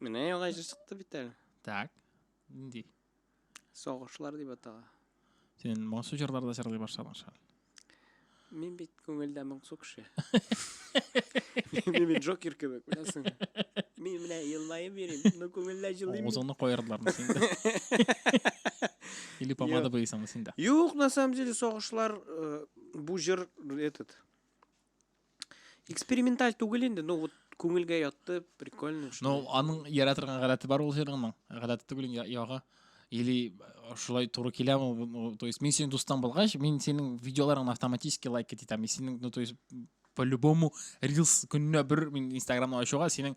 Менә яңа җыр чыкты бит әле. Так. Нинди? Сагышлар дип атала. Син моңсу җырларда җырлый башладың шул. Мин бит күңелдә моңсу кеше. Мин бит Джокер кебек, беләсең. Мин менә елмаеп йөрим, но күңелдә җылыйм. Авызыңны каердылармы син дә? Или помада буйсыңмы син дә? Юк, на самом деле, сагышлар э, бу җыр этот. Эксперименталь түгел инде, но вот күңелгә ятты, прикольно. Ну, аның яра торган гадәте бар ул җырның. Гадәте түгел ягы. Или э, шулай туры киләме? То есть мин синең дустың булгач, мин синең видеоларыңны автоматически лайк итәм. Мин синең, ну, то есть по-любому рилс көненә бер мин инстаграмны ачуга синең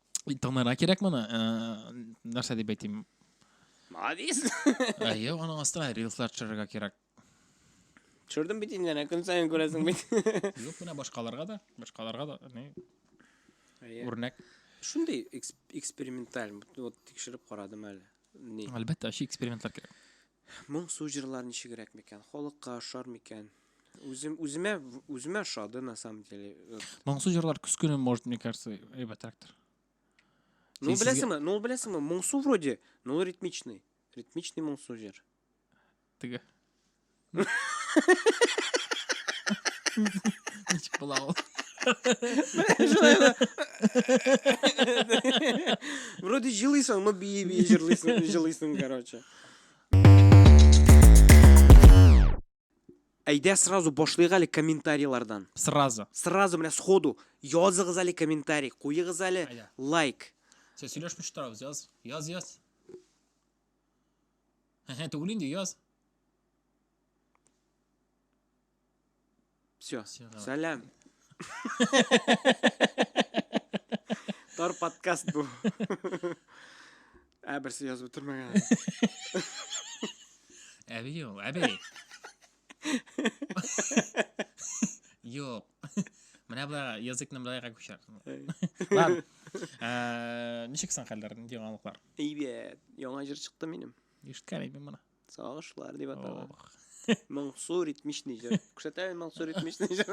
Тыңнарга кирәк моны. Нәрсә дип әйтим? Молодец. Әйе, аның астына рилслар төшерергә кирәк. Төшердем бит инде, әнә көн саен күрәсең бит. Юк, менә башкаларга да, башкаларга да, не? Үрнәк. Шундый эксперименталь, вот тикшереп карадым әле. Ни? Әлбәттә, ши экспериментлар кирәк. Моңсу җырлар ничегрәк микән? Халыкка ошар микән? Үзем үземә үземә ошады на самом деле. Моңсу җырлар күз көне может мне кажется әйбәтрәктер. Ну беләсеңме? Ну беләсеңме? Моңсу вроде, но ритмичный. Ритмичный моңсу җыр. Теге. Ничек була ул? Вроде җылыйсың, но бии-бии җырлыйсың, җылыйсың, короче. Әйдә сразу башлыйк әле комментарийлардан. Сразу. Сразу менә сходу языгыз әле комментарий, куегыз әле лайк. Сез сөйләшмичә торабыз, яз. Яз, яз. Һе-һе, түгел инде, яз. Все. Всё, давай. Сәлам. Тар подкаст бу. Ә берсе язып бетермәгән. Әби ул, әби. Юк. Менә болай языкны болайга күчер. Ладно. Ә, Ничек соң хәлләр, яңалыклар? Әйбәт. Яңа җыр чыкты минем. Ишеткән идем моны. Сагышлар дип атала. Моңсу ритмичный җыр. Күрсәтәме моңсу ритмичный җыр?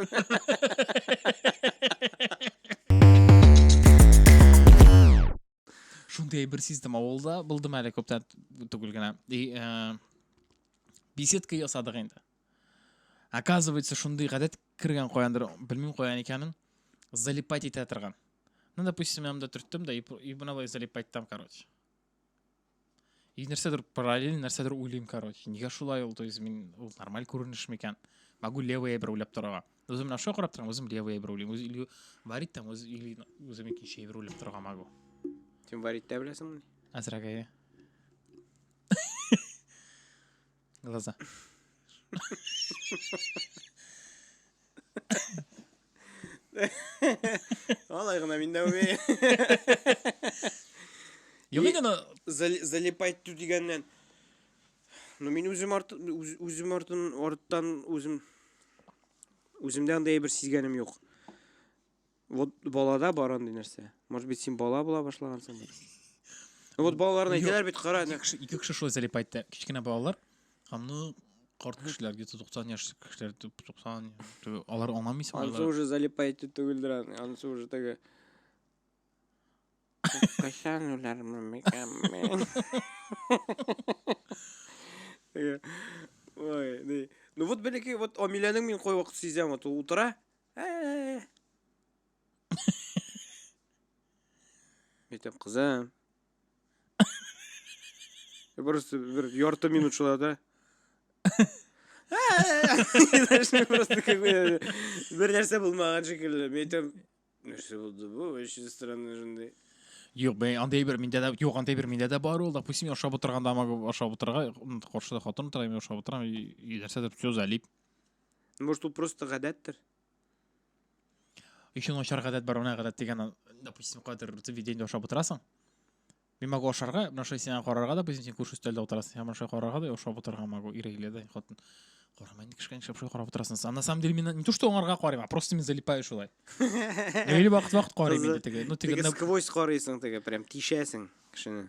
Шундый бер сиздем авылда булдым әле күптән түгел генә. И э, беседка ясадык инде. Оказывается, шундый гадәт кергән каяндыр, белмим каян икәнен, залипать итә торган. Ну, допустим, я вам дотртым, да, и, и мына залипать там, короче. и нәрсәдер параллель нәрсәдер уйлыйм короче нигә шулай ул то есть мин ул нормаль күренеш микән могу левый әйбер уйлап торырга үзем менә шуңа карап торам үзем левый әйбер уйлыйм үзе или варить там үз или үзем икенче әйбер уйлап торырга могу син варить тә беләсеңме әзрәк әйе Глаза. Алай гына мин дә уймыйм. Юк инде аны Залипать ту дигәннән. Ну мин үзем арт үз- үзем артын арттан үзем үземдә андый әйбер сизгәнем юк. Вот балада бар андый нәрсә. Может быть, син бала була башлагансың. Вот балаларны әйтәләр бит, кара. Ике кеше, ике кеше шулай залип айтты. Кечкенә балалар һәм ну карт кешеләр, где-то 90 яшь кешеләр, 90, алар аңламыйсың. Ансы уже залип айтты түгелдер аны. Ансы уже теге Кайсан улар микәм. Ой, ну вот бәләкәй вот Амиләнең мин кой вакыт сизәм, вот утыра, Э. Әйтәм, кызым. Просто бер ярты минут шулай да. Просто какой бер нәрсә булмаган шикелле. Мен әйтәм, нәрсә булды бу? Очень странно шундый. Юк, мен андый бер миндә дә, юк, андый бер миндә дә бар ул. Допустим, ашап утырганда, ашап утырга, каршыда хатын утыра, мен ашап утырам, и нәрсәдер все залип. Ну, может, ул просто гадәттер? Еще начар гадәт бар, уна гадәт дигән, допустим, кадер заведение ашап утырасың. Мин могу ашарга, менә шулай сиңа карарга, допустим, син күрше өстәлдә утырасың, һәм шулай карарга да ашап утырырга могу, ирегле дә, хатын. Карама, инде кешкән шап шулай карап утырасың. А на самом деле мин не то, что аңарга карыйм, а просто мин залипаю шулай. Или вакыт-вакыт карыйм инде теге. Ну, теге сквозь карыйсың теге, прям тишәсең кешене.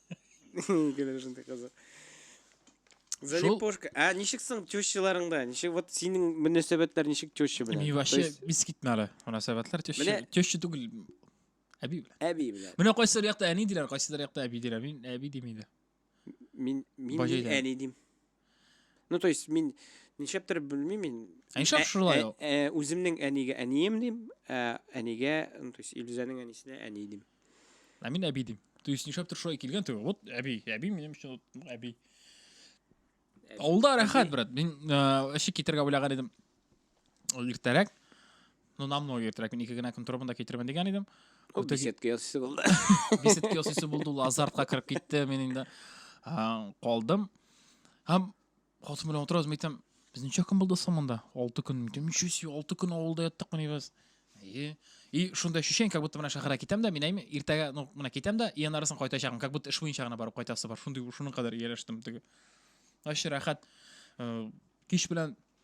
Гүләр шундый кызык. Залипошка. Ә ничек соң тещаларыңда? Ничек вот синең мөнәсәбәтләр ничек теща белән? Мин вообще бис китмә әле. Мөнәсәбәтләр теща. Теща түгел. Әби белән. Әби белән. Менә кайсылар якта әни диләр, кайсылар якта әби диләр. Мин әби димим дә. Мин мин әни дим. Ну, то есть, мин ничәптер белмим мин. Ә нишләп Ә- шулай ә- ул? ә, Үземнең әнигә әнием дим, ә әнигә, ну, то есть, Илүзәнең әнисенә әни дим. Ә мин әби дим. То есть нишләптер шулай килгән түгел. Вот әби, әби минем өчен вот әби. Әби. Авылда рәхәт, брат. Мин э, әши китергә уйлаган идем. Ул иртәрәк, ну, намного иртәрәк, мин ике генә көн торып монда китермен дигән идем. Ул Үтә- беседка ясыйсы булды. Беседка ясыйсы булды, ул азартка кереп китте, мин инде а, калдым. Һәм хатын белән утырабыз, мин әйтәм, без ничә көн булды соң монда? Алты көн. Мин әйтәм, ничего себе, алты көн авылда яттык мени без. И, и шундай ощущение, как будто менә шәһәргә китәм дә, мин әйме, иртәгә, ну, менә китәм дә, и аннарысын кайтачакмын, как будто эш буенча гына барып кайтасы бар. Шундый, шуның кадәр ияләштем теге. Вообще рәхәт. Э, Кич белән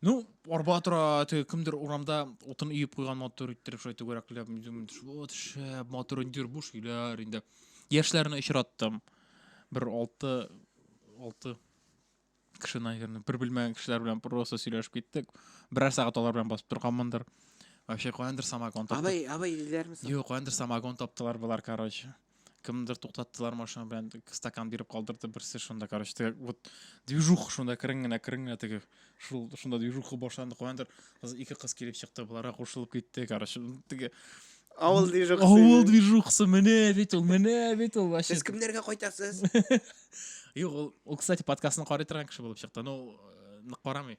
Ну, арба тора, теге кемдер урамда утын өеп куйган мотор иттереп шулай түгәрәкләп, вот шәп мотор индир бу шиләр инде. Яшьләрне очраттым. Бер алты алты кеше, наверное, бер белмәгән кешеләр белән просто сөйләшеп киттек. Берәр сәгать алар белән басып торганмындыр. Вообще каяндыр самогон таптылар. Абай, абай диләрме соң? Юк, каяндыр самогон таптылар болар, короче. кемдер туктаттылар машина белән стакан биреп калдырды берсе шунда короче теге вот движуха шунда керең генә керең генә теге шул шунда движуха башланды каяндыр кыз ике кыз килеп чыкты боларга кушылып китте короче теге авыл движухасы авыл движухасы менә бит ул менә бит ул вообще сез кемнәргә кайтасыз юк ул ул кстати подкастны карый торган кеше булып чыкты ну нык карамый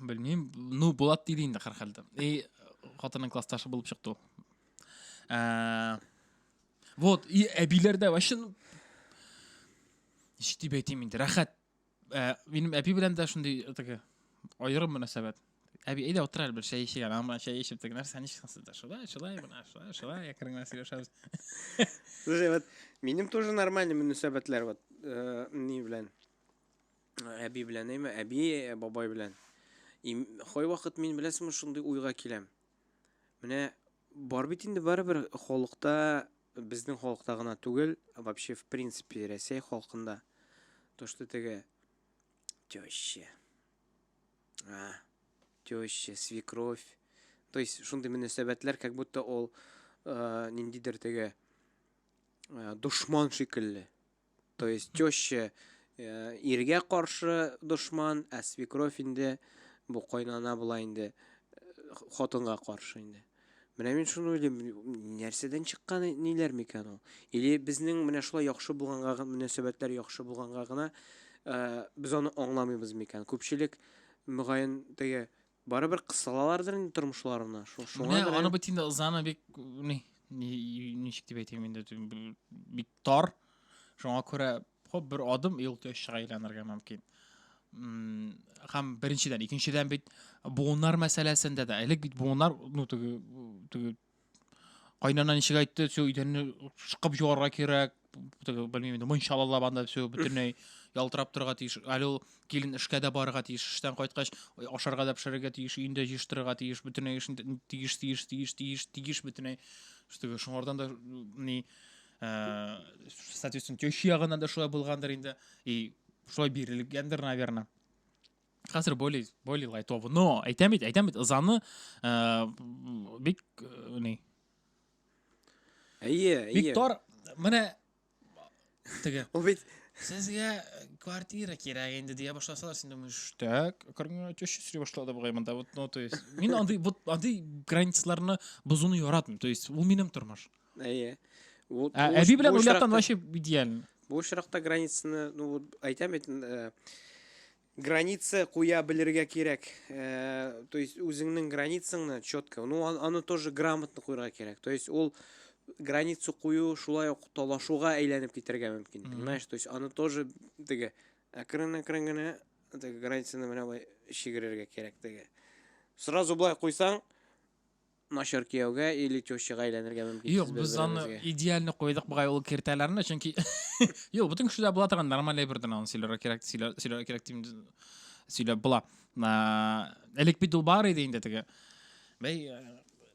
белмим ну булат диде инде һәрхәлдә и хатынның классташы булып чыкты ул ә, вот и әбиләрдә вообще ну, ничек дип әйтим инде рәхәт ә, минем әби белән дә шундый теге аерым мөнәсәбәт әби әйдә утыр әле бер чәй эчик әле ана чәй эчеп теге нәрсә ничек сансызда шулай шулай мына шулай шулай әкренләп сөйләшәбез слушай вот минем тоже нормальный мөнәсәбәтләр вот э, ни белән Әби белән әйме, әби, э, бабай белән. Хой вакыт мин беләсеме шундый уйга киләм. Менә бар бит инде барыбер халыкта, безнең халыкта гына түгел, вообще в принципе Рәсәй халкында. То, что теге теща. А, теща, свекровь. То есть шундый мөнәсәбәтләр как будто ул э, ниндидер теге э, дошман шикелле. То есть теща э, иргә каршы дошман, ә свекровь инде бу кайнана була инде э, хатынга каршы инде. Менә мин шуны уйлыйм, нәрсәдән чыккан ниләр микән ул? Или безнең менә шулай яхшы булганга мөнәсәбәтләр яхшы булганга гына э, без аны аңламыйбыз микән? Күпчелек мөгаен теге Барыбер кысалалардыр инде тормышларына. Шу- Шуңа Менә күрә- аны бит инде ызаны бик ни ни- ничек дип әйтим инде тем- б- бик тар. Шуңа күрә хоп бер адым ел тешчә әйләнергә мөмкин. М, Һәм беренчедән, икенчедән бит буыннар мәсьәләсендә дә. Элек бит буыннар ну теге теге Кайнана ничек әйтте, все, өйдәнне шыкып җуарга кирәк, белмим инде, мунча алалап анда все, бөтенләй ялтырап торырга тиеш. Әле ул килен эшкә дә барырга тиеш, эштән кайткач, ашарга да пешерергә тиеш, өендә җыештырырга тиеш, бөтенләй эшен тиеш, тиеш, тиеш, тиеш, тиеш бөтенләй. Штыгы, шуңардан да ни, ә, соответственно, теща ягыннан да шулай булгандыр инде. И шулай бирелгәндер, наверное. хәзер более более лайтовый но әйтәм бит әйтәм бит ызаны э, бик э, ни әйе әйе бик тар менә теге ул бит сезгә квартира кирәк инде дия башласалар син думаешь так кыргынгә төш сри башлады бугай монда вот ну то есть мин андый вот андый границаларны бозуны яратмыйм то есть ул минем тормыш Әйе. Бу Ә, бу әби белән бу уйлаптан очракта- вообще идеально. Бу очракта границаны, ну вот әйтәм бит, э, граница куя белергә кирәк. Э, то есть үзеңнең границаңны четко, ну ан- аны тоже грамотно куярга кирәк. То есть ул границу кую шулай ук талашуга әйләнеп китәргә мөмкин. Мгм. Понимаешь? То есть аны тоже теге әкрен-әкрен генә теге границаны менә болай чигерергә кирәк теге. Сразу болай куйсаң, Начар кияүгә или тещага әйләнергә мөмкин. Юк, без аны идеальны куйдык бугай ул киртәләрне, чөнки Юк, бөтен кешедә була торган нормальный бер дана аны сөйләргә кирәк, сөйләргә кирәк дим сөйләп була. Элек бит ул бар иде инде теге. Бәй,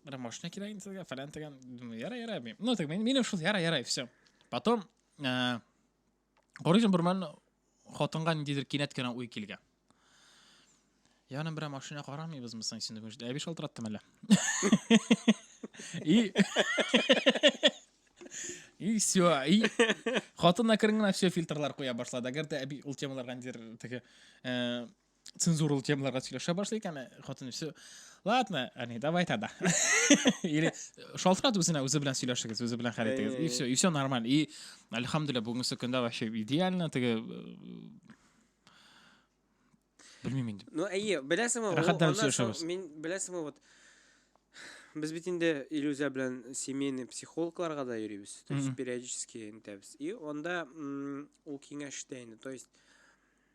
бер машина кирәк инде сезгә, фәлән дигән. Яра, яра. Ну, так мин мин шул яра, яра, все. Потом Карыйсың бермәл хатынга ниндидер кинәт кенә уй килгән. Янын берәр машина карамыйбызмы соң син бүгін? Әби шалтыраттым әле. И И все, и хатынна керенгән все фильтрлар куя башлады. Әгәр дә әби ул темаларга ниндидер теге э, цензуралы темаларга сөйләшә башлый икән хатын үзе ладно әни давай тогда или шалтырат үзенә үзе белән сөйләшегез үзе белән хәл итегез и все и все нормально и альхамдулилля бүгенге көндә вообще идеально теге белмим инде ну әйе беләсеңме рәхәтләнеп сөйләшәбез мин беләсеңме вот без бит инде иллюзия белән семейный психологларга да йөрибез то есть периодически интәбез и анда ул киңәш итә инде то есть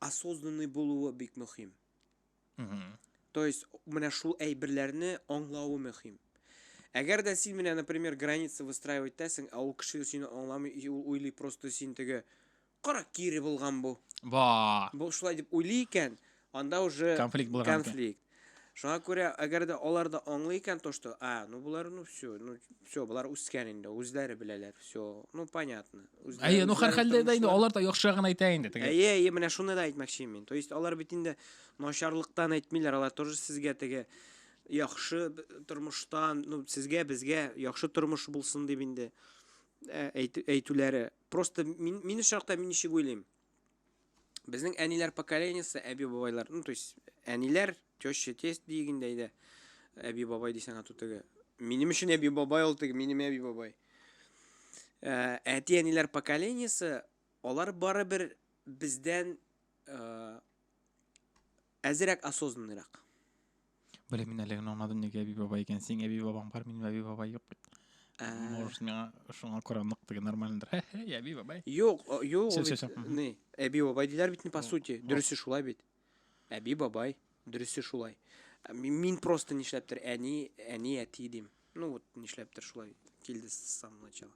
осознанный булуы бик мөһим. Угу. То есть, менә шул әйберләрне аңлавы мөһим. Әгәр дә син менә, например, граница выстраивать итәсең, ә ул кеше сине аңламый, ул уйлый просто син теге кара кире булган бу. Ба. Бу шулай дип уйлый икән, анда уже конфликт булган. Конфликт. Шуңа күрә, әгәр дә алар да аңлый икән то, что, а, ну болар, ну все, ну все, болар үскән инде, үзләре беләләр, все, ну понятно. Үзләре, Әйе, ну үзләре һәрхәлдә дә инде тормышлары- алар да яхшырагын әйтә инде теге. Әйе, әйе, менә шуны да әйтмәкче мин. То есть алар бит инде начарлыктан әйтмиләр, алар тоже сезгә теге яхшы б- тормыштан, ну сезгә, безгә яхшы тормыш булсын дип инде ә, әйтү- әйтүләре. Просто мин мин очракта мин ничек уйлыйм? Безнең әниләр поколениесе, әби-бабайлар, ну, то есть, әниләр, теща, тесть дигендәй дә, әби-бабай дисәң ату теге. Минем өчен әби-бабай ул теге, минем әби-бабай. Ә, әти-әниләр поколениесе, алар бары бер бездән ә, Әзерәк осознанныйрак. Блин, мин әле генә аңладым, нигә әби бабай икән. Синең әби бабаң бар, минем әби бабай юк бит. Ә. Может, миңа шуңа күрә нык теге нормальныйдыр. Хе-хе, әби бабай. Юк, о, юк, Всё, ул всё, бит, всё, мгм. ни, әби бабай диләр бит, ни, по О, сути. о. Дөресе шулай бит. Әби бабай, дөресе шулай. Ә ми- Мин просто нишләптер әни, әни, әти дим. Ну вот, нишләптер шулай килде с самого начала.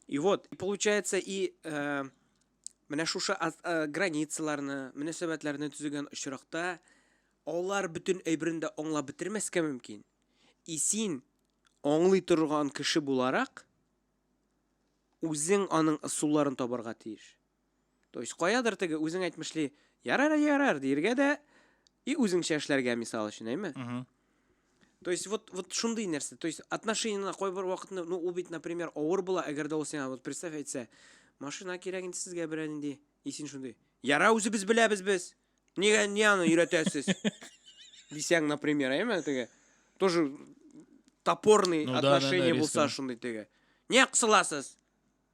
И вот, и получается, и э, Менә шушы границаларны, мөнәсәбәтләрне төзегән очракта алар бөтен әйберен дә аңлап бетермәскә мөмкин. И син аңлый торган кеше буларак, үзең аның ысулларын табарга тиеш. То есть каядыр теге үзең әйтмешли, ярар, ярар диергә дә и үзеңчә эшләргә мисал өчен, әйме? То есть вот, вот шундый нәрсә. То есть отношениеңа кайбер вакытны, ну ул бит, например, авыр була, әгәр дә ул сиңа вот представь әйтсә, машина кирәк инде сезгә берәр нинди. И син шундый. Яра үзебез беләбез без. Нигә не аны өйрәтәсез? Дисәң, например, әйме теге. Тоже топорный ну, отношение да, да, булса шундый теге. Не кысыласыз?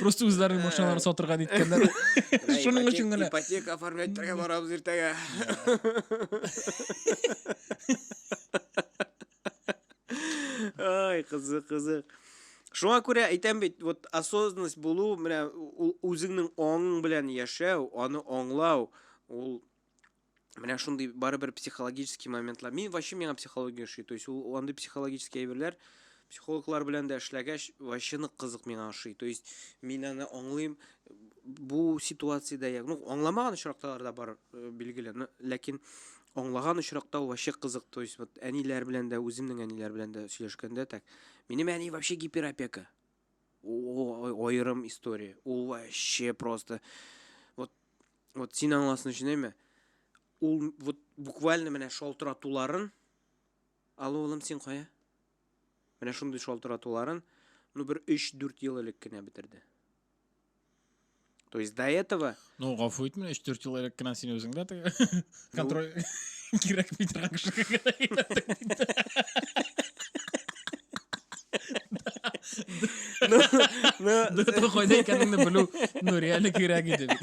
просто үзләренең ә. машиналарын сатырга ниткәннәр шуның өчен генә ипотека оформлять итәргә барабыз иртәгә ай кызык кызык шуңа күрә әйтәм бит вот осознанность булу менә ул үзеңнең аңың белән яшәү аны аңлау ул менә шундый барыбер психологический моментлар мин вообще миңа психология ошый то есть ул андый психологический әйберләр психологлар белән дә эшләгәч вообще нык кызык миңа ошый то есть мин аны аңлыйм бу ситуациядә як ну аңламаган очракталар да бар э, билгеле ләкин аңлаган очракта ул вообще кызык то есть вот әниләр белән дә үземнең әниләр белән дә сөйләшкәндә так минем әни вообще гиперопека О, аерым история. Ул вообще просто вот вот син аңласын өчен әйме? Ул вот буквально менә шалтыратуларын Алло, улым, син кая? Менә шундый шалтыратуларын, ну бер 3-4 ел элек кенә бетерде. То есть до этого... Ну, гафу итмә, 3-4 ел элек кенә син үзең дә контроль кирәк бит Ну, ну... Да то кайда икәнеңне белү, ну, реально кирәк иде бит.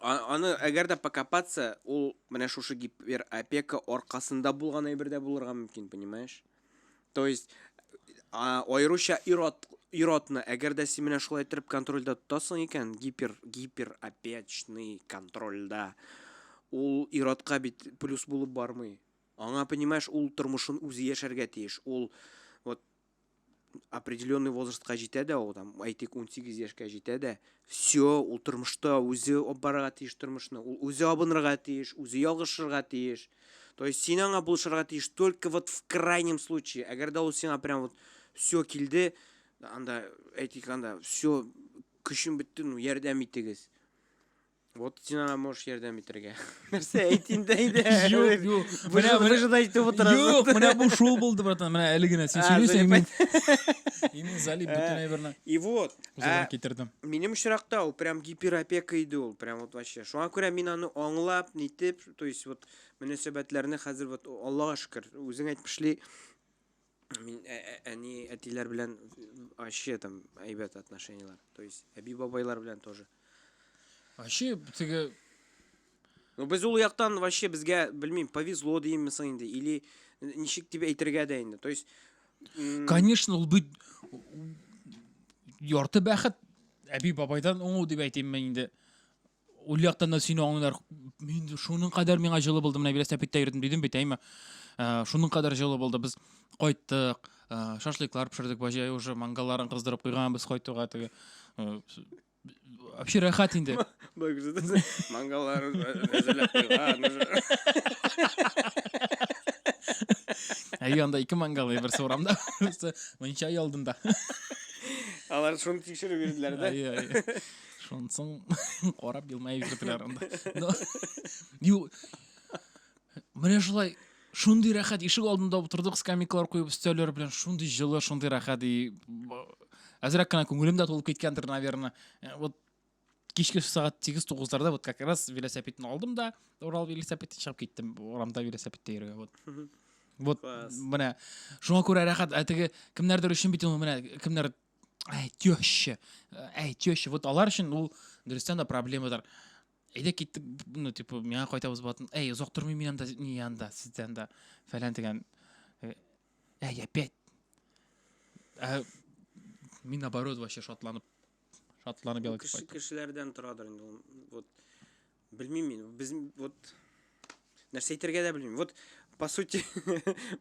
Аны әгәр дә покопаться, ул менә шушы гиперопека аркасында булган әйбер дә булырга мөмкин, понимаешь? То есть аеруча ирот иротны әгәр дә син менә шулай итеп контрольдә тотасың икән, гипер гиперопечный контрольдә ул иротка бит плюс булып бармый. Аңа, понимаешь, ул тормышын үзе яшәргә тиеш. Ул вот определенный возрастка җитә дә ул там әйтик унсигез яшькә җитә дә все ул тормышта үзе алып барырга тиеш тормышны ул үзе абынырга тиеш үзе ялгышырга тиеш то есть син аңа булышырга тиеш только вот в крайнем случае әгәр дә ул сиңа прям вот все килде анда әйтик анда все көчем бетте ну ярдәм итегез Вот син аңа можешь ярдәм итәргә. Нәрсә әйт инде әйдә. Юк, юк. Менә менә шуны әйтеп утырасың. Юк, менә бу шул булды, братан. Менә әле генә син сөйлисең, мин. Имин залип бөтен әйберне. И вот. Үземә китердем. Минем очракта ул прям гиперопека иде ул, прям вот вообще. Шуңа күрә мин аны аңлап, нитеп, то есть вот мөнәсәбәтләрне хәзер вот Аллага шөкер, үзең әйтмешли, Мин әни әтиләр белән ачы там әйбәт отношениеләр. То есть әби бабайлар белән тоже. Ачы теге Ну без ул яктан вообще безгә белмим, повезло димме соң инде или ничек дип әйтергә дә инде. То есть Конечно, ул бит ярты бәхет әби бабайдан уңу дип әйтимме инде. Ул яктан да сине аңлыйлар. Мин шуның кадәр миңа җылы булды, менә бирәс тәпиттә йөрдем дидем бит, әйме. Ә, шуның кадәр җылы булды. Без кайттык, ә, шашлыклар пешердек, баҗай уже мангалларын кыздырып куйган без кайтуга теге. Ә, Вообще рәхәт инде. Бай күрсәтәсең. Мангаллар әзерләп куйган. Әйе, анда ике мангал, берсе урамда, берсе мунча алдында. Алар шуны тикшереп йөрделәр дә. Әйе, әйе. Шунсын карап елмаеп йөрделәр анда. Ю. Менә шулай шундый рәхәт ишек алдында утырдык, скамейкалар куеп өстәлләр белән шундый җылы, шундый рәхәт и әзрәк кенә күңелем дә тулып киткәндер, наверное. Э, вот кичке сәгать 8-9-ларда вот как раз велосипедны алдым да, Урал велосипедын чыгып киттем. Урамда велосипедта йөргән вот. Вот менә шуңа күрә рәхәт, ә теге кемнәрдер өчен бит ул менә кемнәр әй теща әй теща вот алар өчен ул дөрестән дә проблемадыр әйдә киттек ну типа миңа кайтабыз болатын әй озак тормыйм мин анда не анда сиздә анда фәлән дигән э, әй опять ә, мин наоборот вообще шатланып шатланып ял итеп кешеләрдән торадыр инде ул вот Белмим мин, без вот нәрсә әйтергә дә белмим. Вот по сути,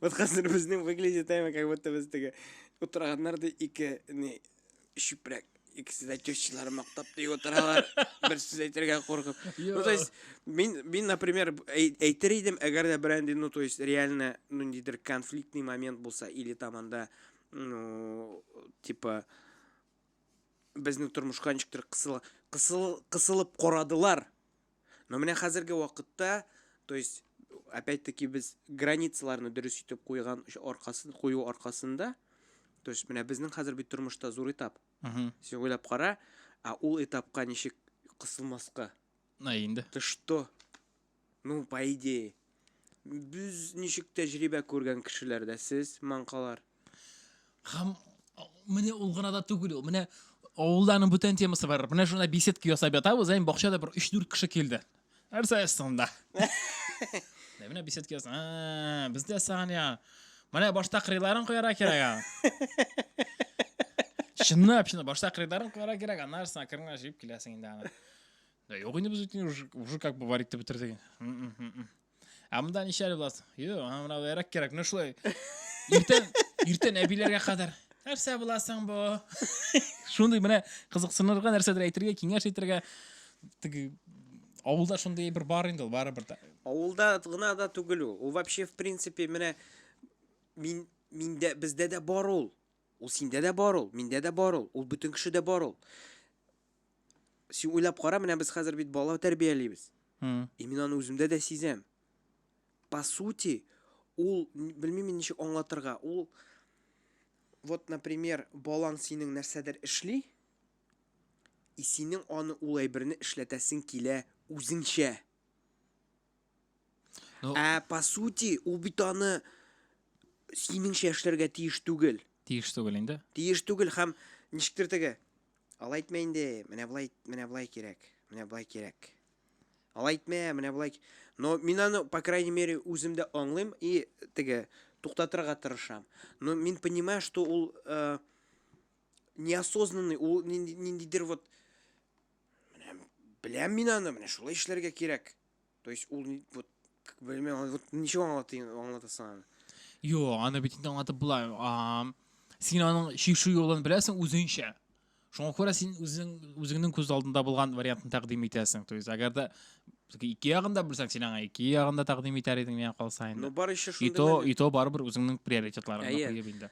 вот хәзер безнең выглядит әмма как будто без теге утырганнар да ике не чүпрәк икесе дә тещалар мактап ди утыралар. Бер сүз әйтергә куркып. Ну то есть мин мин например әйтер идем, әгәр дә бренди, ну то есть реально ну ниндидер конфликтный момент булса или там анда ну типа безнең тормышка ничектер кысыла, кысыл, кысылып карадылар. Но менә хәзерге вакытта, то есть, опять-таки без границаларны дөрес итеп куйган аркасын, кую аркасында, то есть, менә безнең хәзер бит тормышта зур этап. Угу. Син уйлап кара, а ул этапка ничек кысылмаска? На инде. Ты что? Ну, по идее. Без ничек тәҗрибә күргән кешеләр дә сез, маңкалар. Һәм менә ул гына да түгел ул. Менә авылда аның бүтән темасы бар. Менә шунда беседка ясап ятабыз, әйм бакчада бер 3-4 кеше килде. Нәрсә астында? Менә менә беседка ясап. А, бездә саган я. Менә башта кырыйларын куярга кирәк ага. Чынлап, чынлап башта кырыйларын куярга кирәк, аннары саган кырыңа җыеп киләсең инде аны. Да юк инде без үтен уже, уже как бы варить деп бетердек. Ә монда ничә әле буласың? Юк, аңа мына бәрәк кирәк. Менә шулай. Иртән, иртән әбиләргә кадәр. Нәрсә буласың бу? Шундый менә кызыксынырга нәрсәдер әйтергә, киңәш әйтергә. Теге авылда шундый бер бар инде ул барыбер да. Авылда гына да түгел ул. Ул вообще в принципе менә мин миндә бездә дә бар ул. Ул синдә дә бар ул, миндә дә бар ул, ул бөтен кешедә бар ул. Син уйлап кара, менә без хәзер бит бала тәрбиялибез. И мин аны үземдә дә сизәм. По сути, ул белмим мин ничек аңлатырга. Ул вот, например, балаң синең нәрсәдер эшли, и синең аны ул әйберне эшләтәсең килә үзеңчә. Ну, Ә по сути, ул бит аны синеңчә эшләргә тиеш түгел. Тиеш түгел инде. Тиеш түгел һәм ничектер теге. Алай әйтмә инде, менә болай, менә болай кирәк, менә болай кирәк. Алай әйтмә, менә болай. Но мин аны, по крайней мере, үземдә аңлыйм и теге туктатырга тырышам. Но мин понимаю, что ул э, неосознанный, ул ниндидер вот Менә беләм мин аны, менә шулай эшләргә кирәк. То есть ул вот белмәм, вот ничек аңлатыйм, аңлатасың аны. Юк, аны бит инде аңлатып була. Син аның чишү юлын беләсең үзеңчә. Шуңа күрә син үзең үзеңнең күз алдында булган вариантны тәкъдим итәсең. То есть, әгәр дә ике ягында белсәң, син аңа ике ягында тәкъдим итәр идең, миңа калса инде. Ну, бар еще шунда. И то, и то барыбер үзеңнең приоритетларыңны куеп инде.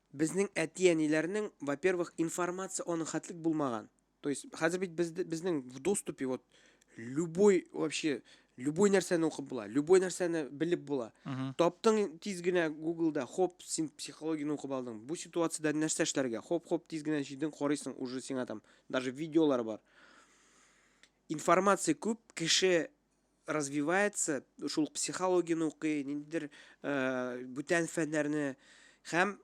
Безнең әти-әниләрнең, во-первых, информация аның хәтлек булмаган. То есть, хәзер бит бездә, безнең в доступе вот любой вообще, любой нәрсәне укып була, любой нәрсәне белеп була. Мгм. Таптың тиз генә Гуглда, хоп, син психологияне укып алдың. Бу ситуациядә нәрсә эшләргә? Хоп-хоп тиз генә җыйдың, карыйсың, уже сиңа там даже видеолар бар. Информация күп, кеше развивается, шул психологияне укый, ниндидер бүтән фәннәрне һәм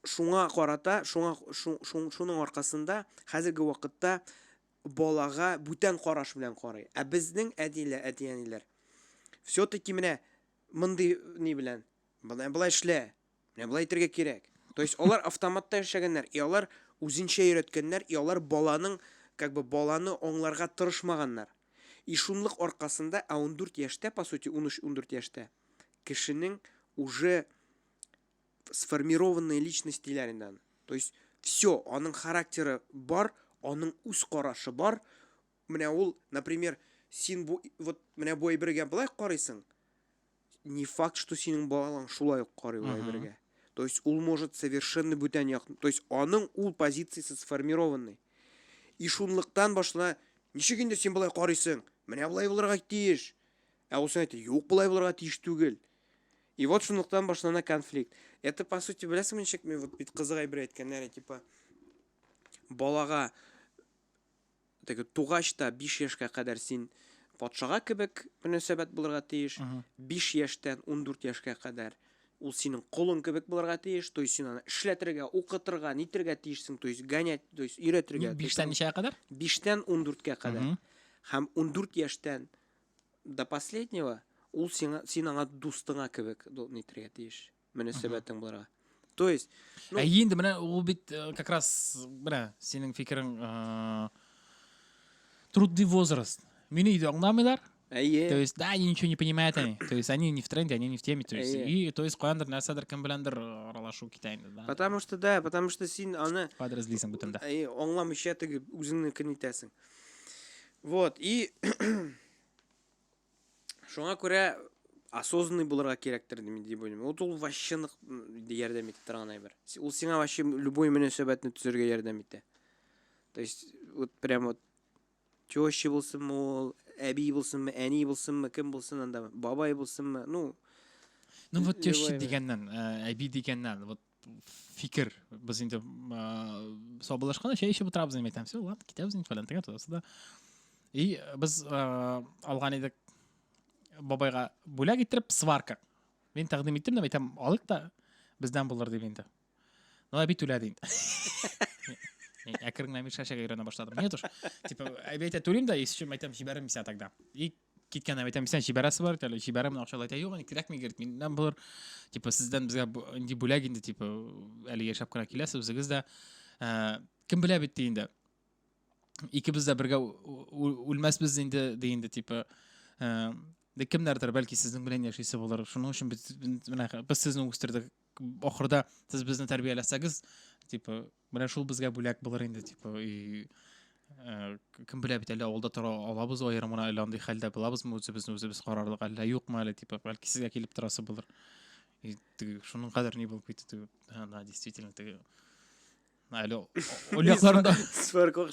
шуңа карата, шуңа шуның аркасында хәзерге вакытта балага бүтән караш белән карый. Ә безнең әтиләр, әти-әниләр все-таки менә мондый ни белән Болай, болай эшлә. Менә болай итәргә кирәк. То есть алар автоматта яшәгәннәр, и алар үзенчә өйрәткәннәр, и алар баланың, как бы баланы аңларга тырышмаганнар. И шунлык аркасында, ә 14 яшьтә, по сути, 13-14 яшьтә кешенең уже сформированные личность диләр инде аны. То есть все, аның характеры бар, аның үз карашы бар, Менә ул, например, син бу вот менә бу әйбергә былай карыйсың. Не факт, что синең балаң шулай ук карый ул әйбергә. То есть ул может совершенно бүтән як, то есть аның ул позициясе сформированный. И шунлыктан башына ничек инде син былай карыйсың? Менә былай булырга тиеш. Ә ул син әйтә, юк, былай булырга тиеш түгел. И вот шунлыктан башлана конфликт. Это по сути, беләсеңме ничек, вот бит кызык әйбер әйткәннәр, типа балага теге тугач та биш яшькә кадәр син патшага кебек мөнәсәбәт булырга тиеш, биш яшьтән ундүрт яшькә кадәр ул синең колың кебек булырга тиеш, то есть син аны эшләтергә, укытырга, нитергә тиешсең, то есть гонять, то есть өйрәтергә. Биштән ничәгә кадәр? Биштән ундүрткә кадәр. Һәм ундүрт яшьтән до последнего ул сиңа, син аңа дустыңа кебек нитергә тиеш. мөнәсәбәтең булырга то есть ну... ә енді менә ул бит э, как раз менә синең фикерең ә... трудный возраст мине өйдә аңламыйлар әйе то есть да они ничего не понимают они то есть они не в тренде они не в теме то есть и то есть каяндыр нәрсәдер кем беләндер э, аралашу китә инде да потому что да потому что син аны подразлисең бүтән дә әйе аңламыйча теге үзеңнекен итәсең вот и Шуңа күрә осознанный булырга кирәктер дип уйлыйм. Вот ул вообще нык ярдәм итә торган әйбер. Ул сиңа вообще любой мөнәсәбәтне төзергә ярдәм итә. То есть вот прям вот теща булсынмы ул, әби булсынмы, әни булсынмы, кем булсын анда, бабай булсынмы, ну Ну вот теща дигәннән, әби дигәннән, вот фикер без инде сабылышканда чәй эчеп утырабыз дип әйтәм все ладно китәбез инде фәлән тегән тудасы да и без алган идек бабайга бүләк иттереп сварка мин тәкъдим иттем дип әйтәм алыйк та бездән булыр дип инде ну әби түләде инде әкрен генә мишәшәгә өйрәнә башладым нет уж типа әби әйтә түлим да исчем әйтәм җибәрмим сиңа тогда и киткәннән әйтәм исән җибәрәсе бар әле җибәрәмен акча әйтә юк инде кирәкми керт миннән булыр типа сездән безгә инде бүләк инде типа әле яшәп кына киләсез үзегез дә ә, кем белә бит ди инде икебез дә бергә үлмәсбез инде ди инде типа ә, Дә кемнәрдер бәлки сезнең белән яшисе булыр. Шуның өчен без менә без сезне үстердек. Ахырда сез безне тәрбияләсәгез, типа Менә шул безгә бүләк булыр инде, дип, и, э, кем белә бит әле авылда тора алабыз аерым гына әле андый хәлдә булабызмы үзебезне үзебез карарлык әллә юкмы әле дип, бәлки сезгә килеп торасы булыр. И, теге, шуның кадәр ни булып китте, теге, да, действительно, теге, әле олякларында. Сверкок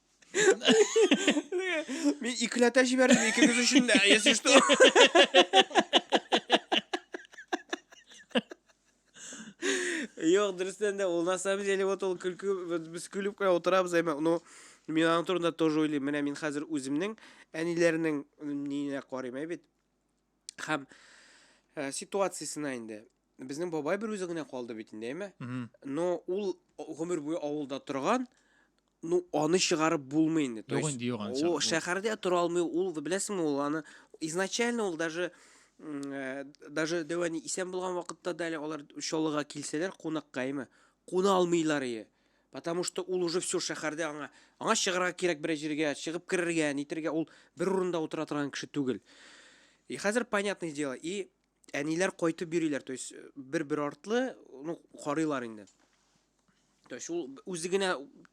Мин икеләтә җибәрдем икегез өчен дә, если что. Юк, дөрестән дә ул на самом деле вот ул көлке без көлеп кенә утырабыз, әмма ну мин аның турында тоже уйлыйм. Менә мин хәзер үземнең әниләрнең ниенә карыйм, ә бит. Хәм э, ситуациясенә инде. Безнең бабай бер үзе генә калды бит инде, әйме? Но ул гомер буе авылда торган, ну аны чыгарып булмый инде. То есть, ул шәһәрдә тора алмый, ул беләсеңме, ул аны изначально ул даже э, даже дәвәни исән булган вакытта да әле алар чалыга килсәләр кунакка, әйме? Куна алмыйлар ие. Потому что ул уже все шәһәрдә аңа аңа чыгарга кирәк берәр җиргә, чыгып керергә, нитергә, ул бер урында утыра торган кеше түгел. И хәзер понятное дело, и әниләр кайтып йөриләр, то есть э, бер-бер артлы, ну, карыйлар инде. То есть ул үзе генә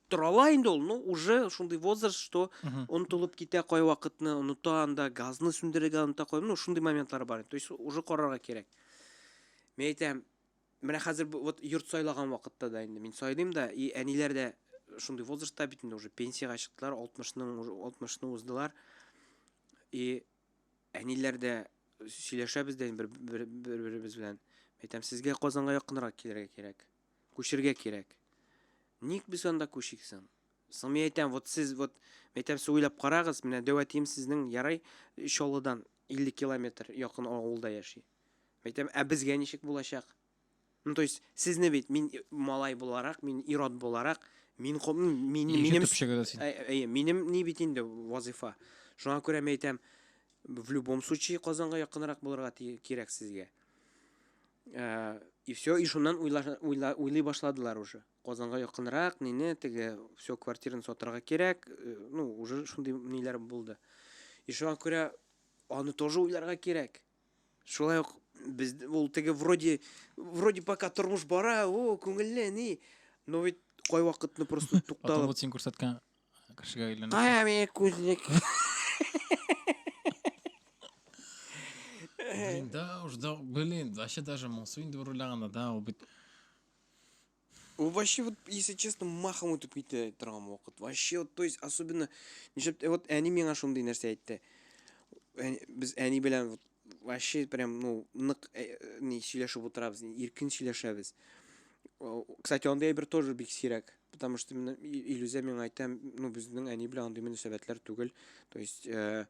тора ала инде ул, ну, уже шундый возраст, что онытылып китә кай вакытны, оныта анда, газны сүндерергә оныта кой, ну, шундый моментлар бар. То есть уже карарга кирәк. Мен әйтәм, Менә хәзер вот йорт сайлаган вакытта да инде мин сайлыйм да, и әниләр дә шундый возрастта бит инде уже пенсиягә чыктылар, 60-ның 60-ны уздылар. И әниләр дә сөйләшәбез дә бер бер-беребез белән. Әйтәм, сезгә Казанга якынрак килергә кирәк. Күчергә кирәк. Ник без анда күчиксең? Соң мин әйтәм, вот сез вот әйтәм, сез уйлап карагыз, менә дәвәтием сезнең ярай Чаллыдан 50 километр якын авылда яши. Әйтәм, ә безгә ничек булачак? Ну, то есть, сезне бит, мин малай буларак, мин ирод буларак, мин, мин, минем, әйе, минем ни бит инде вазифа. Шуңа күрә мен әйтәм, в любом случае Казанга якынрак булырга кирәк сезгә. Э, и все, и шуннан уйлый башладылар уже. Казанга якынрак, нине, теге, все, квартираны сатырга кирәк, э, ну, уже шундый ниләр булды. И шуңа күрә аны тоже уйларга кирәк. Шулай ук без ул теге вроде вроде пока тормыш бара, о, күңелле, ни. Но ведь кай вакытны просто тукталып. Атыңны син күрсәткән кешегә әйләнә. Кая мин күзлек. Да, уж да, блин, вообще даже моңсу инде урланганда да, ул бит Ул вообще вот, если честно, махом үтеп китә торган вакыт. Вообще вот, то есть особенно нишләп вот әни миңа шундый нәрсә әйтте. Без әни белән вот вообще прям, ну, нык э, ни сөйләшеп утырабыз, иркен сөйләшәбез. Кстати, андый әйбер тоже бик сирәк, потому что мен Илюзә миңа әйтә, ну, безнең әни белән андый мөнәсәбәтләр түгел. То есть э,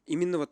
именно вот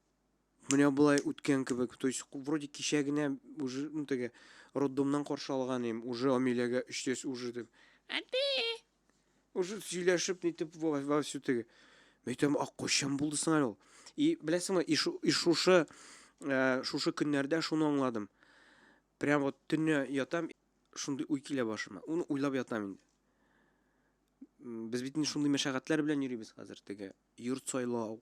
Менә болай үткән кебек. То есть, вроде кичә генә уже ну, теге роддомнан каршы алган идем. Уже Амиләгә өчтәс уже дип. Әти! Уже сөйләшеп нитеп во всю теге. Мен әйтәм, а кайчан булды соң әле ул? И беләсеңме, и, шу, и шушы ә, шушы көннәрдә шуны аңладым. Прям вот төнне ятам, шундый уй килә башыма. Уны уйлап ятам инде. Без бит инде шундый мәшәкатьләр белән йөрибез хәзер теге йорт сайлау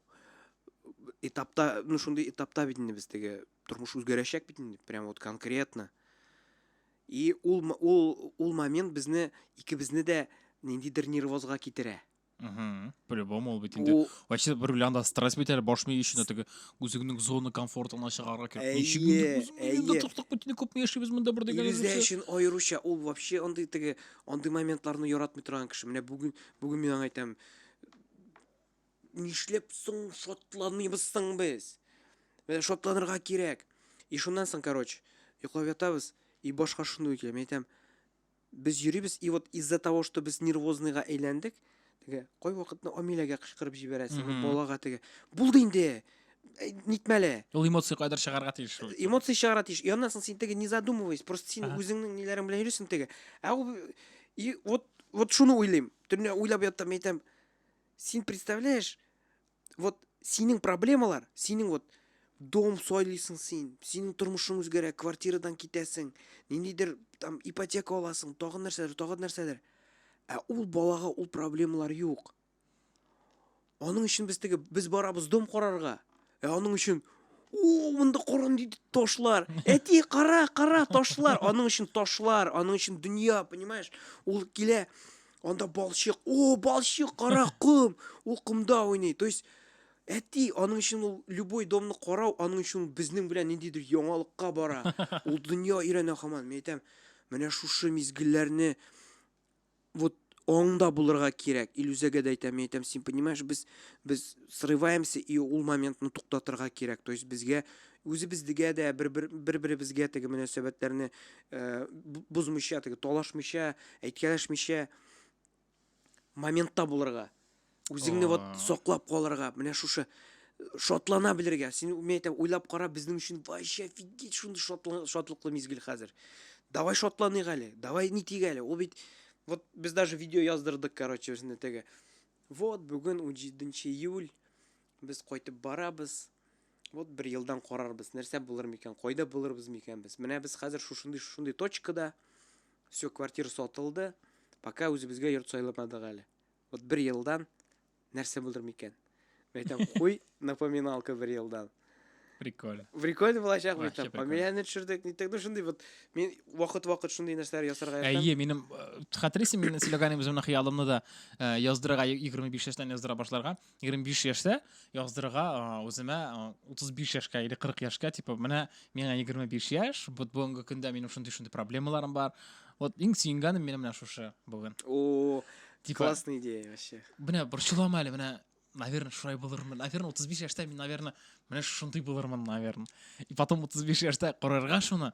этапта ну шундый этапта бит инде без теге тормыш үзгәрәчәк бит инде прям вот конкретно и ул ул ул момент безне икебезне дә ниндидер нервозга китерә по-любому ул бит инде вообще бер белән да стресс бит әле баш мие өчен теге үзеңнең зона комфортына чыгарга кирәк ничек инде туктак бит инде күпме яшибез монда бер дигән үзе өчен аеруча ул вообще андый теге андый моментларны яратмый торган кеше менә бүген бүген мин аңа әйтәм Нишләп соң шатланмыйбыз соң без? Менә шатланырга кирәк. И шуннан соң, короче, йоклап ятабыз, и башка шундый килә. Мин әйтәм, без йөрибез, и вот из-за того, что без нервозныйга әйләндек, теге кай вакытны Амиләгә кычкырып җибәрәсең, Мгм. балага теге. Булды инде. Әй, Нитмәле. Ул эмоция кайдыр чыгарга тиеш. шул. Эмоция чыгара тиеш. И аннан соң син теге не задумываясь, просто син Ага. үзеңнең ниләрең белән йөрисең теге. Ә ул и вот вот шуны уйлыйм. Төнлә уйлап яттым, әйтәм, син представляешь, вот синең проблемалар, синең вот дом сойлыйсың син, синең тормышың үзгәрә, квартирадан китәсең, ниндидер там ипотека аласың, тагын нәрсәдер, тагын нәрсәдер. Ә ул балага ул проблемалар юк. Аның өчен без теге без барабыз дом карарга. Ә аның өчен О, монда корын диде ташлар. Әти, кара, кара, ташлар. Аның өчен ташлар, аның өчен дөнья, понимаешь? Ул килә, анда балчык. О, балчык, кара ком. Ул комда уйный. То есть Әти, аның өчен ул любой домны карау, аның өчен безнең белән ниндидер яңалыкка бара. Ул дөнья өйрәнә хаман. Мен әйтәм, менә шушы мизгелләрне вот аңда булырга кирәк. Илүзәгә дә әйтәм, мин әйтәм, син понимаешь, без без срываемся и ул моментны туктатырга кирәк. То есть безгә үзебезгә дә бер-бер бер-беребезгә теге мөнәсәбәтләрне э, бозмыйча, теге талашмыйча, әйткәләшмичә моментта булырга. Үзеңне вот саклап калырга, менә шушы э, шатлана белергә. Син мен әйтәм, уйлап кара, безнең өчен вообще офигеть шундый шатлыклы мизгел хәзер. Давай шатланыйк әле, давай нитик әле. Ул бит вот без даже видео яздырдык, короче, үзенә теге. Вот бүген 17 июль без кайтып барабыз. Вот бер елдан карарбыз, нәрсә булыр микән, кайда булырбыз микән без. Менә без хәзер шушындый шушындый точкада. Все, квартира сатылды. Пока үзебезгә йорт сайламадык әле. Вот бер елдан нәрсә булыр микән? Мин әйтәм, куй напоминалка бер елдан. Прикольно. Прикольно булачак бит. Вообще прикольно. Фамилияне төшердек, ниттек, ну шундый вот мин вакыт-вакыт шундый нәрсәләр ясарга яратам. Әйе, минем э, хәтерисең, мин сөйләгәнем үземнең хыялымны да э, яздырырга 25 яшьтән яздыра башларга. 25 яшьтә яздырырга үземә 35 яшькә или 40 яшькә типа менә миңа 25 яшь вот бүгенге көндә минем шундый шундый проблемаларым бар вот иң сөенгәнем менә менә шушы бүген о типа, классная идея вообще менә борчылама әле менә наверное шулай булырмын наверное 35 яшьтә мин наверное менә шундый булырмын наверное и потом 35 яшьтә карарга шуны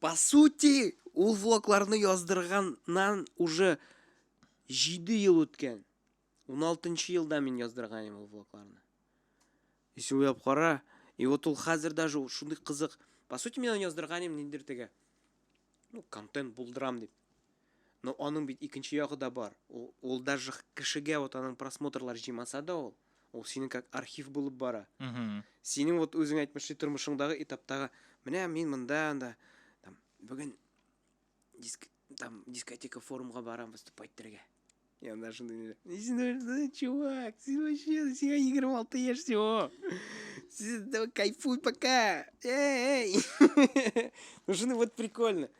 По сути, ул влогларны яздырганнан уже 7 ел үткән. 16 нчы елда мин яздырган идем ул влогларны. Если уйлап кара, и вот ул хәзер даже шундый кызык. По сути, мин аны яздырган идем ниндер теге. Ну, контент булдырам дип. Но аның бит икенче ягы да бар, ул, ул даже кешегә вот аның просмотрлар җыймаса да ул, ул синең как архив булып бара. Синең вот үзең әйтмешли тормышыңдагы этаптагы, менә мин монда, анда, там, бүген диск, там, дискотека форумга барам выступать итәргә. Я даже не... Ну, чувак, ты вообще себя играл, а ты ешь все. Давай кайфуй пока. Эй, эй. Ну, жены, вот прикольно.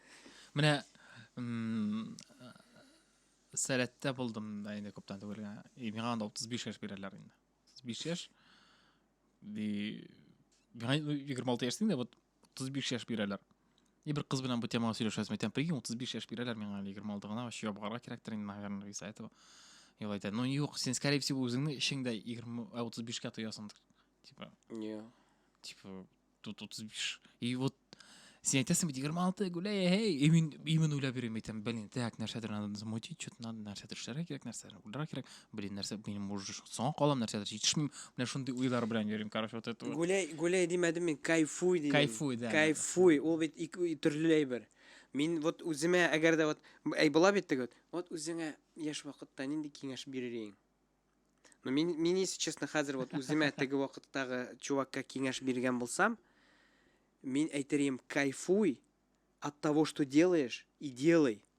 Мне... Сәләттә булдым да инде күптән түгел генә. И миңа анда 35 яшь бирәләр инде. 35 яшь. Ди... Миңа 26 яшь инде, вот 35 яшь бирәләр. И бер кыз белән бу темага сөйләшәсем. Әйтәм, прикинь, 35 яшь бирәләр миңа әле 26 гына, вообще ябгарга кирәктер инде, наверное, из-за этого. И вот это, ну юк, син, скорее всего, үзеңне эчеңдә 20, 35-кә тоясыңдыр. Типа, Не. типа, тут 35. И вот син әйтәсең бит 26 гуляй, эй, и мин именно уйлап йөрим, әйтәм, блин, так, нәрсәдер надо замутить, что-то надо, нәрсәдер эшләргә кирәк, нәрсәдер уйларга кирәк. блин, нәрсә, минем уже соңа калам нәрсәдер җитешмим, менә шундый уйлар белән йөрим, короче, вот это. Гуляй, гуляй димәдем мин, кайфуй дидем. Кайфуй, да. Кайфуй, ул бит ике төрле әйбер. Мин вот үземә, әгәр дә вот, әй була бит теге вот, вот үзеңә яшь вакытта нинди киңәш бирер идең? Ну, мин, мин, если честно, хәзер вот үземә теге вакыттагы чувакка киңәш биргән булсам, мин әйтер идем, кайфуй от того, что делаешь, и делай.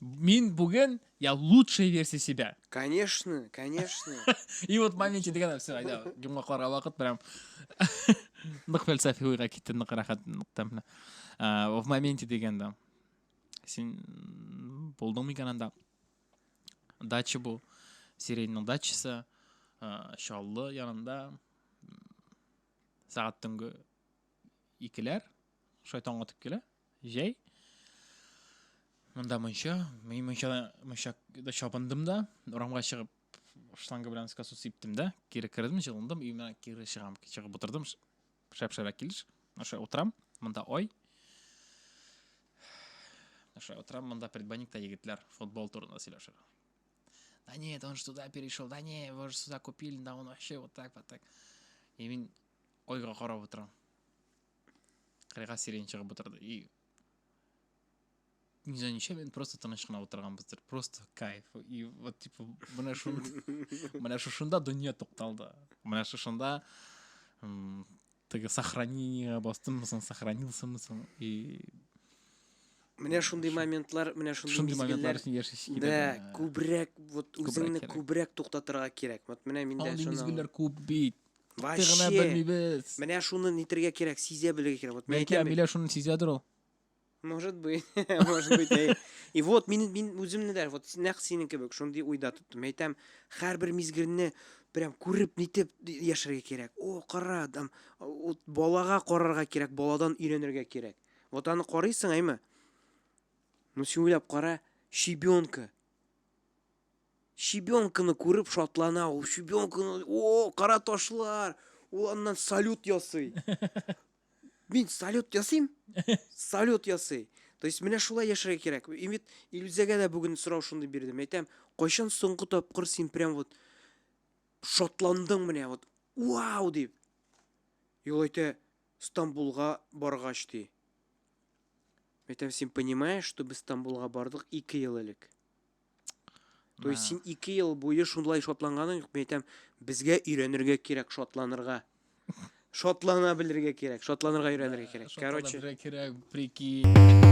Мин бүген я лучшая версия себя. Конечно, конечно. И вот моменте дигән все, айда, йомгакларга вакыт прям. Нык фәлсәфи уйга китте, нык рәхәт, нык тәмле. В моменте дигәндә. Син булдың микән анда? Дача бу. Сиреньның дачасы. Шаллы янында. Сәгать төнге икеләр, шулай таң атып килә, җәй. Монда мунча, мин мунчада, мунчада чабындым да, урамга чыгып, шланга белән скасу сиптем дә, кире кердем, җылындым, өймә кире чыгам, чыгып утырдым, шәп-шәрәк килеш, аша утырам, монда ай, Наша утрам монда предбанникта егетләр футбол турында сөйләшер. Да нет, он же туда перешел, да не, его же сюда купили, да он вообще вот так, вот так. И мин Айга карап утырам. Кырыйга сирень чыгып утырды. И... Не знаю, ничем, мен просто тыныш кына отырганбыздыр. Просто кайф. И вот, типа, менә шунда, менә шушында дөнья тукталды. Менә шушында теге сохранение бастыммысың, сохранилсымысың. И Менә шундый моментлар, менә шундый мизгелләр. Да, күбрәк вот үзеңне күбрәк туктатырга кирәк. Вот менә миндә шуны. Андый мизгелләр күп бит. Тик генә Вообще. белмибез. Менә шуны нитергә кирәк, сизә белергә кирәк. Вот мин Бәлки әйтәм бит. Амилә шуны сизәдер ул. Может быть, может быть. әй. И вот мин мин үземне дә вот нәкъ синең кебек шундый уйда тоттым. Мин әйтәм, һәрбер мизгелне прям күреп нитеп яшәргә кирәк. О, кара, там вот балага карарга кирәк, баладан өйрәнергә кирәк. Вот аны карыйсың, әйме? Ну син уйлап кара, щебенка. Щебенканы күреп шатлана ул. Щебенканы, о, кара ташлар! Ул аннан салют ясый. Мин салют ясыйм? Салют ясый. То есть менә шулай яшәргә кирәк. И бит Илүзәгә дә бүген сорау шундый бирдем. Әйтәм, кайчан соңгы тапкыр син прям вот шатландың менә вот вау дип. И ул әйтә, Стамбулга баргач ди. Әйтәм, син понимаешь, что без Стамбулга бардык 2 ел элек? То есть син ике ел буе шунлай шатланганың юк, мин әйтәм, безгә өйрәнергә кирәк шатланырга. Шатлана белергә кирәк, шатланырга өйрәнергә кирәк. Короче, кирәк, прикинь.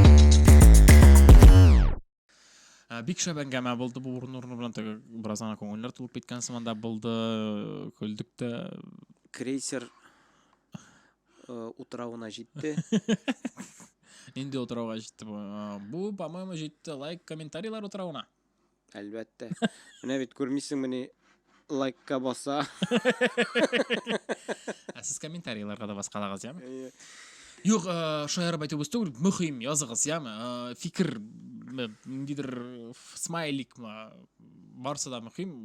Ә, бик шәп әңгәмә булды бу урын урыны белән теге бераз гына күңелләр тулып киткән сыман да булды көлдек тә крейсер Э, утравына җитте инде утрауга җитте бу э, бу по моему җитте лайк комментарийлар утравына әлбәттә менә бит күрмисеңмени лайкка баса ә сез комментарийларга да баскалагыз яме иә. юк э, шаярып әйтү бус түгел мөһим языгыз яме фикер ниндидер смайликмы барысы да мөһим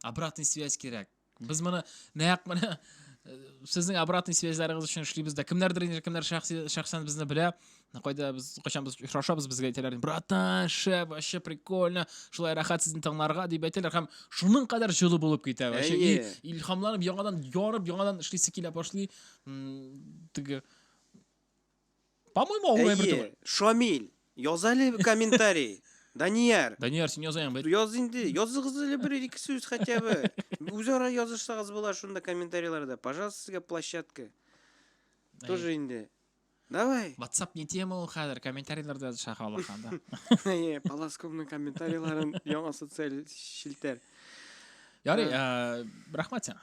обратный связь кирәк Без моны нәкъ менә э, сезнең обратный связьларыгыз өчен эшлибез дә. Кемнәрдер инде кемнәр шәхси шәхсән безне белә. Кайда без кайчан без очрашабыз, безгә әйтәләр, "Братан, шәп, вообще прикольно, шулай рәхәт сезне тыңларга" дип әйтәләр һәм шуның кадәр җылы булып китә. Вообще Әйе. и- илһамланып яңадан ярып, яңадан эшлисе килә башлый. М, Теге По-моему, авыр әйбер түгел. Шамил, яз әле комментарий. Данияр. Данияр, син язаң бит. Яз инде. Языгыз әле бер ике сүз хотя бы. Үзара язышсагыз була шунда комментарийларда. Пожалуйста, сезгә площадка. Тоже инде. Давай. WhatsApp не тема ул хәзер, комментарийларда языша халыканда. Әйе, полоскомның комментарийларын яңа социаль челтәр. Ярый, рәхмәт сиңа.